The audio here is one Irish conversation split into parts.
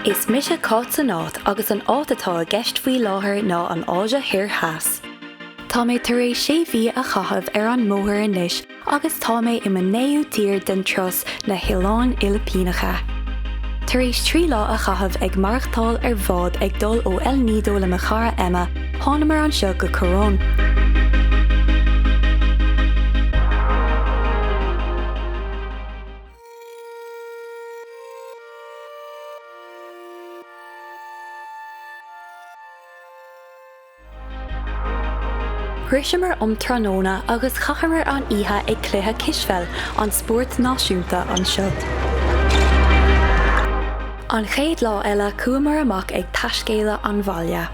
Is mise Cáit san Áit agus an áit atá i gceist faoi láthair ná an Áise Thoir Theas. Tá mé tar éis sé mhí a chaitheamh ar an mbóthar anois agus tá mé i mo naoú tír den turas na hOileáin Fhilipíneacha. Tar éis trí lá a chaitheamh ag maireachtáil ar bhád ag dul ó El Nido le mo chara Emma, thánamar anseo go Coron. Shroiseamar um tráthnóna agus chaitheamar an oíche ag cluiche cispheil, an spórt náisiúnta anseo. An chéad lá eile chuamar amach ag taiscéaladh an bhaile.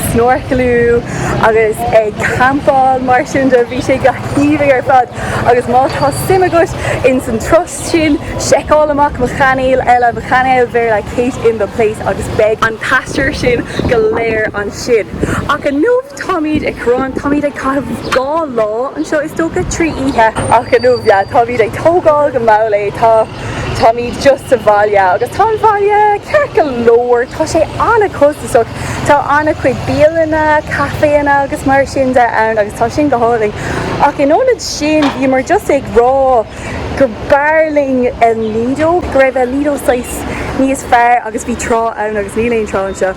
snorcalú agus ag campáil mar sin de bhí sé go haoibhinn ar fad agus má tá suim agat ins an turas sin seiceáil amach mo chainéal eile mo chainéal Bhéarla Kate in the Place agus beidh an t-aistear sin go léir ansin ach inniu táimíd i gCoron táimíd ag caitheamh dhá lá anseo is dócha trí oíche ach inniu yeah táimíd ag tógáil go mall é tá. Táimid just sa bhaile agus tá an bhaile ceart go leor, tá sé an-costasach. Tá an-chuid bialanna, caiféanna agus mar sin de ann agus tá sin go hálainn. Ach in ionad sin, bhíomar just ag rá gur b'fhearr linn El Nido, go raibh El Nido saghas níos fearr agus bhí trá ann agus níl aon trá anseo.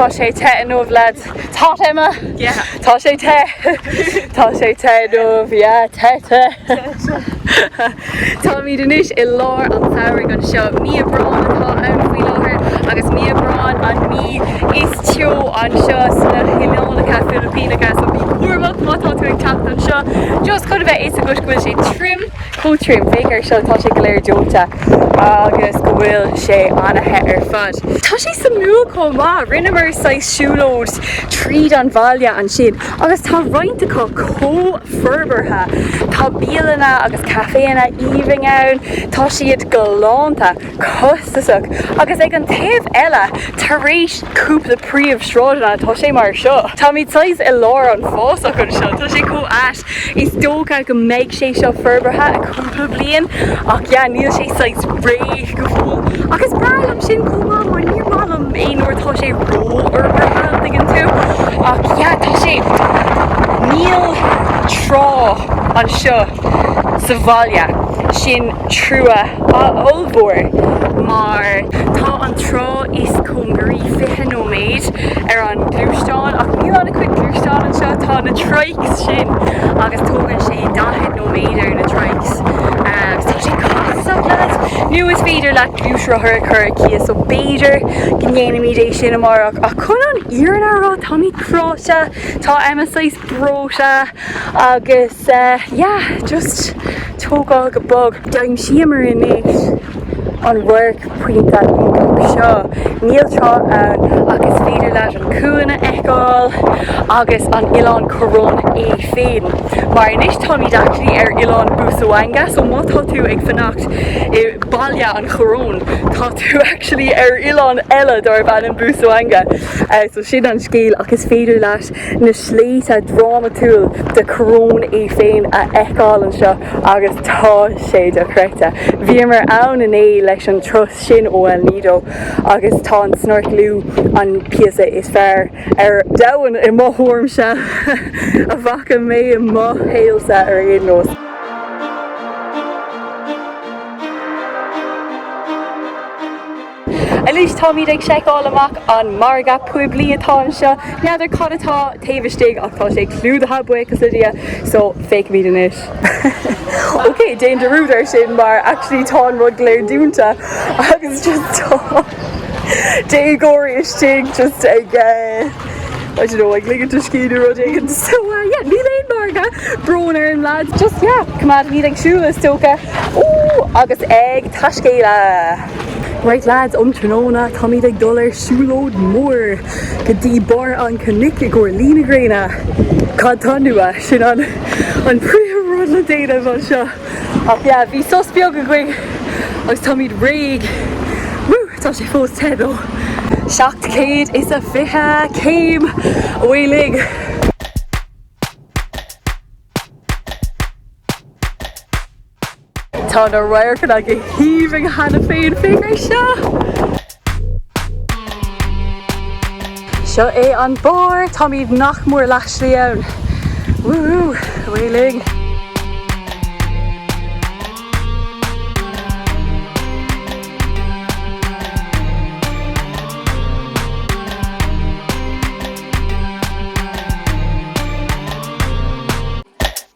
Tá sé te inniu leaids. Tá Emma. Yeah. Tá sé te. Tá sé te inniu. Yeah, te te. Táimid anois i lár an tsamhraidh anseo. Mí Aibreán atá ann faoi láthair agus mí Aibreán an mí is teo anseo sna hoileánacha Filipíneacha so bí cúramach má tá tú ag teacht anseo. Just chun a bheith fhios agat go bhfuil sé tirim. Chomh tirim, féach ar seo, tá sé go léir dóite agus go bhfuil sé ana-the ar fad. Tá sé suimiúil chomh maith, rinneamar saghas siúlóid tríd an bhaile ansin agus tá roinnt acu chomh forbartha, tá bialanna agus caiféanna aoibhinn ann, tá siad galánta, costasach agus ag an taobh eile, tar éis cúpla príomhshráideanna, tá sé mar seo. Táimid saghas i lár an fásach anseo, tá sé chomh ait. Is dócha go mbeidh sé seo forbartha i cúpla bliain ach yeah níl sé saghas réidh go fóill ach is breá liom sin chomh maith mar níor maith liom é nuair atá sé ró-fhorbartha an dtuigeann tú ach yeah tá sé níl trá anseo sa bhaile sin trua ollmhór mar tá an trá is cóngaraí 20 nóiméad ar an gluaisteán ach níl an-chuid gluaisteán anseo, tá na trikes sin agus tógann sé 40 nóiméad ar na trikes agus tá sé costasach leaids nó is féidir leat gluaisrothar a chur ar cíos so b'fhéidir go ndéanfaimid é sin amárach ach chun an fhírinne a rá táimid cráite, tá Emma saghas breoite agus. Sea, yeah, just tógáil go bog. D'aimsíomar anois an radharc pointe iontach seo. Níl trá ann ach is féidir leat an cuan a fheiceáil agus an Oileán Coron é féin. Mar anois táimid actually ar Oileán Busuanga so má tá tú ag fanacht i Baile an Choróin tá tú actually ar oileán eile darb ainm Busuanga. So sin an scéal ach is féidir leat na sléibhte drámatúil de Coron é féin a fheiceáil anseo agus tá sé dochreidte. Bhíomar ann inné leis an turas sin ó El Nido agus tá an snorclú an píosa is fearr ar domhan i mo thuairimse a bhfaca mé i mo shaolsa ar aon nós. Anois táimid ag seiceáil amach an margadh poiblí atá anseo. N'fheadar cad atá taobh istigh ach tá sé clúdaithe, buíochas le Dia, so feicfimid anois. Ok, déan dearúd ar sin mar actually tá an rud go léir dúnta agus just tá déagóirí istigh just ag eh, I don't know, ag ligint a scíth nó rud éigin. So uh, yeah, níl aon margadh, brón orm lads, just yeah, coimeádfaimid ag siúl is dócha. Ú, agus ag taiscéaladh! Right lads, um tráthnóna táimid ag dul ar siúlóid mór go dtí barr an cnoic i gcomhair Luí na Gréine. Cad tá nua? Sin an príomhrud le déanamh anseo. Ach yeah, bhí sos beag againn agus táimid réidh. Woo, tá sé fós te though. 700 is a 20 céim uilig. Tá na radharcanna go haoibhinn cheana féin, féach ar seo! Seo é an barr, táimid nach mór leath slí ann. Woo-hoo, away linn!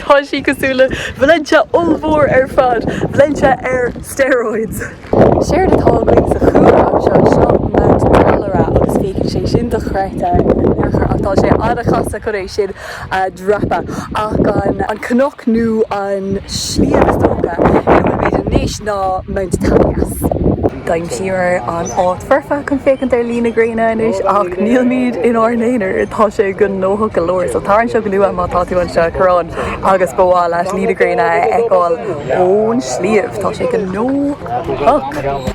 Tá sé cosúil le Valentia ollmhór ar fad, Valentia ar steroids! Séard atá againn sa chúlra anseo, seo Mount Dalara agus féachann sé sin dochreidte ach tá sé an-chasta chun é sin a dhreapadh ach an cnoc nó an sliabh is dócha ina bhfuil muid anois ná Mount Talias. D'aimsíomar an áit foirfe chun féachaint ar luí na gréine anois ach nílimid inár n-aonar, tá sé gnóthach go leor. So tar anseo go luath, má tá tú anseo, Coron agus ba mhaith leat luí na gréine a fheiceáil ón sliabh, tá sé gnóthach.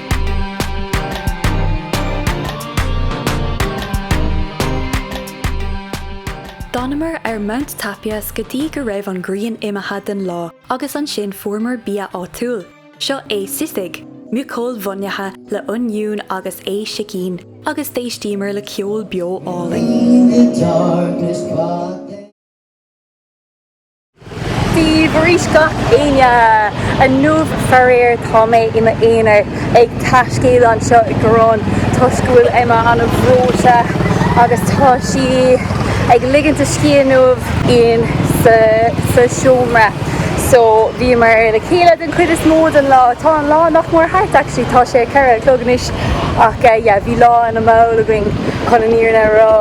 D'fhanamar ar Mount Tapyas go dtí go raibh an ghrian imithe den lá agus ansin fuaireamar bia áitiúil. Seo é sisig, muiceoil mhionaithe le oinniún agus ae sicín, agus d'éistíomar le ceol beo álainn. Bhí arís gach éinne inniubh faraor. Tá mé i m'aonar ag taiscéaladh anseo i gCoron toisc go bhfuil Emma ana bhreoite agus tá sí ag ligint a scíth inniubh in sa seomra. So bhíomar le chéile den chuid is mó den lá. Tá an lá nach mór thart actually, tá sé 4 a chlog anois. Ach yeah, bhí lá ana mall againn chun an fhírinne a rá.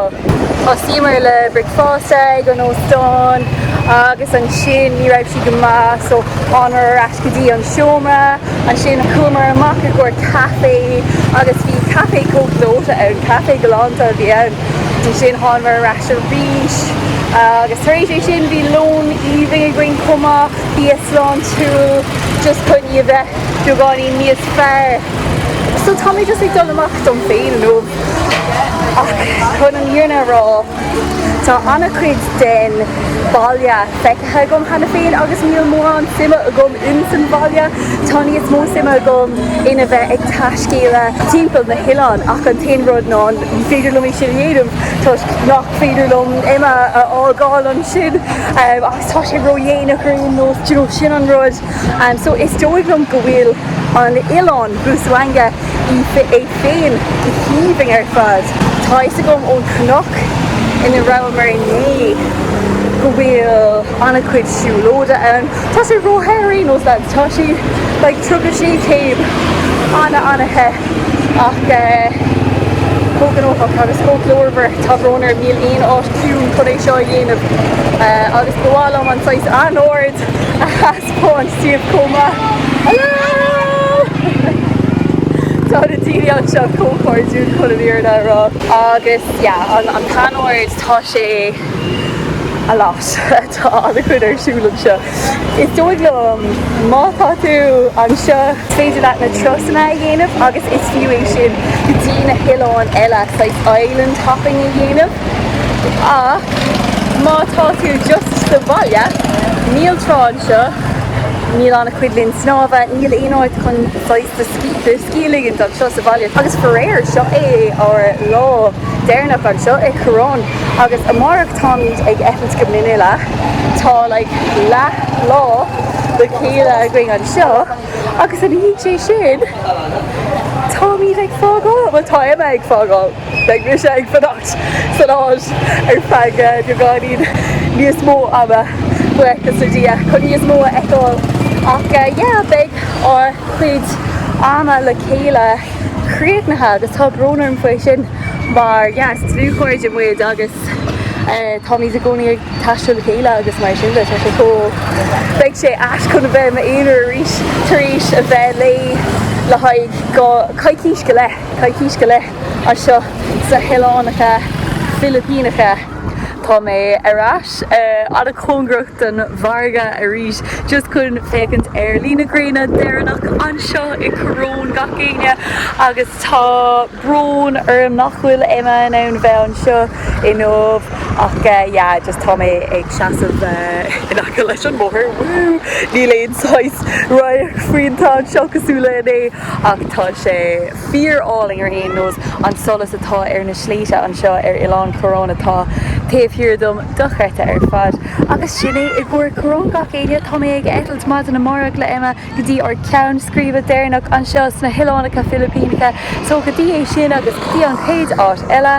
Thosaíomar le bricfeasta ag an óstán agus ansin ní raibh sí go maith so thánamar ar ais go dtí an seomra. Ansin chuamar amach i gcomhair caife agus bhí caife chomh gleoite ann, caife galánta a bhí ann. Ansin thánamar ar ais arís agus tar éis é sin bhí lón aoibhinn againn chomh maith, bia sláintiúil just chun í a bheith. beagáinín níos fearr. So tá mé just ag dul amach dom féin inniu ach chun an fhírinne a rá, tá an-chuid den bhaile feicthe agam cheana féin agus níl mórán suime agam ins an bhaile. Tá níos mó suime agam ina bheith ag taiscéaladh timpeall na hoileán ach an t-aon rud ná ní féidir liom é sin a dhéanamh toisc nach féidir liom Emma a fhágáil ansin agus tá sé ródhéanach ar aon nós, do you know, sin an rud. Is dóigh liom go bhfuil an t-oileán, Busuanga, é féin aoibhinn ar fad. Tá a fhios agam ón chnoc ina rabhamar inné go bhfuil an-chuid siúlóide ann. Tá sé ró-the ar aon nós, lads. Tá sé like tríocha sé céim. An-an-the. Ach eh, chomh gnóthach agus chomh glórmhar, tá brón orm, níl aon áit ciúin chun é seo a dhéanamh. Agus ba mhaith liom an saghas anord a thaispeáint díbh chomh maith. Tá na daoine anseo chomh cairdiúil chun an fhírinne a rá. Agus yeah, an an t-anord, tá sé a lot. Tá an-chuid ar siúl anseo. Is dóigh liom, má tá tú anseo, is féidir leat na turasanna a dhéanamh agus is fiú é sin go dtí na hoileáin eile, like island hopping a dhéanamh. Ach má tá tú just sa bhaile, níl trá anseo, níl ana-chuid linn snámha, níl aon áit chun saghas de de scíth a ligint anseo sa bhaile. Agus faraor, seo é ár lá deireanach anseo i Coron agus amárach táimid ag eitilt go Manila. Tá like leathlá le chéile againn anseo agus ina dhiaidh sin táimid ag fágáil, bhuel tá Emma ag fágáil. Beidh mise ag fanacht san áit ar feadh beagáinín níos mó ama, buíochas le Dia, chun níos mó a fheiceáil ach yeah beidh ár gcuid ama le chéile críochnaithe agus tá brón orm faoi sin mar yeah is dlúthchairde muid agus táimid i gcónaí ag taisteal le chéile agus mar sin tá sé cool. Beidh sé ait chun a bheith i m'aonar arís tar éis a bheith léi le haghaidh coicís go leith. Coicís go leith anseo sna hOileánacha Filipíneacha. Tá mé ar ais i gcóngaracht don mhargadh arís just chun féachaint ar luí na gréine deireanach anseo i Coron gach éinne agus tá brón orm nach bhfuil Emma in ann a bheith anseo inniu ach yeah just tá mé ag seasamh in aice leis an mbóthar, woo! Níl aon saghas radharc iontach anseo cosúil le inné. ach tá sé fíorálainn ar aon nós, an solas atá ar na sléibhte anseo ar Oileán Coron atá taobh thiar dom, dochreidte ar fad. Agus sin é i gcomhair Coron gach éinne, tá mé ag eitilt maidin amárach le Emma go dtí ár ceann scríbe deireanach anseo sna hOileánacha Filipíneacha, so go dtí é sin agus go dtí an chéad áit eile,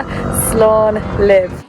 slán libh.